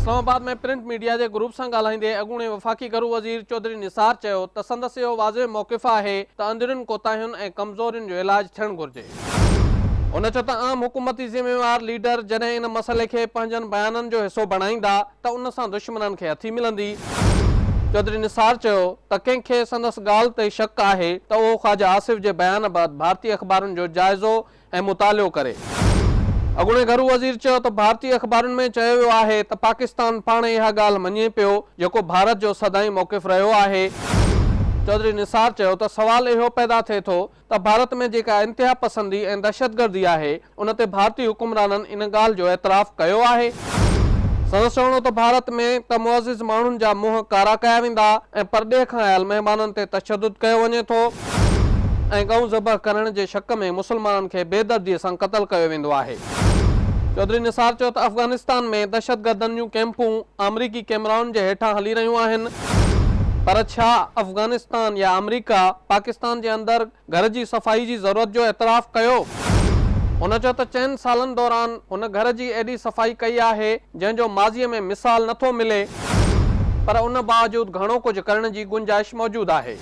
اسلام آباد ۾ print media جي گروپ سان ڳالهائيندي اڳوڻي وفاقي گهرو وزير چوڌري نثار چيو ته سندس اهو واضح موقف آهي ته اندرين ڪوتاهين ۽ ڪمزورين جو علاج ٿيڻ گهرجي. هن چيو ته عام حڪومتي ذميوار ليڊر جڏهن ان مسئلي کي پنهنجن بيانن جو حصو بڻائيندا ته ان سان دشمنن کي هٿي ملندي. چوڌري نثار چيو ته ڪنهن کي سندس ڳالهه تي شڪ آهي ته اهو خواجه آصف جي بيان بعد ڀارتي اخبارن جو جائزو ۽ مطالعو ڪري. اڳوڻي گهرو وزير چيو ته ڀارتي اخبارن ۾ چيو ويو آهي ته پاڪستان پاڻ اها ڳالهه مڃي پيو جيڪو ڀارت جو سدائين موقف رهيو آهي. چوڌري نثار چيو ته سوال اهو پيدا ٿئي ٿو ته ڀارت ۾ جيڪا انتها پسندي ۽ دهشتگردي آهي ان تي ڀارتي حڪمرانن ان ڳالهه جو اعتراف ڪيو آهي؟ سندس چوڻ هو ته ڀارت ۾ ته معزز ماڻهن جا منهن ڪارا ڪيا ويندا ۽ پرڏيهه کان آيل مهمانن تي تشدد ڪيو وڃي ٿو. ۽ ڳئون ذبح ڪرڻ جي شڪ ۾ مسلمانن کي بي دردي سان قتل ڪيو ويندو آهي. چوڌري نثار چيو ته افغانستان ۾ دهشتگردن جون ڪئمپون آمريڪي ڪئمرائن جي هيٺان هلي رهيون آهن پر ڇا افغانستان يا آمريڪا پاڪستان جي اندر گهر جي صفائي جي ضرورت جو اعتراف ڪيو؟ هن چيو ته چئن سالن دوران هن گهر جي ايڏي صفائي ڪئي آهي، جنهن جو ماضيء ۾ مثال نه ٿو ملي پر ان باوجود گهڻو ڪجهه ڪرڻ جي گنجائش موجود آهي.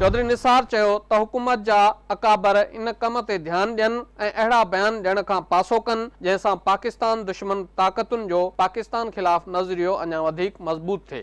چوڌري نثار چيو ته حڪومت جا اڪابر ان ڪم تي ڌيان ڏين ۽ اهڙا بيان ڏيڻ کان پاسو ڪن جنهن سان پاڪستان دشمن طاقتن جو پاڪستان خلاف نظريو اڃا وڌيڪ مضبوط ٿئي.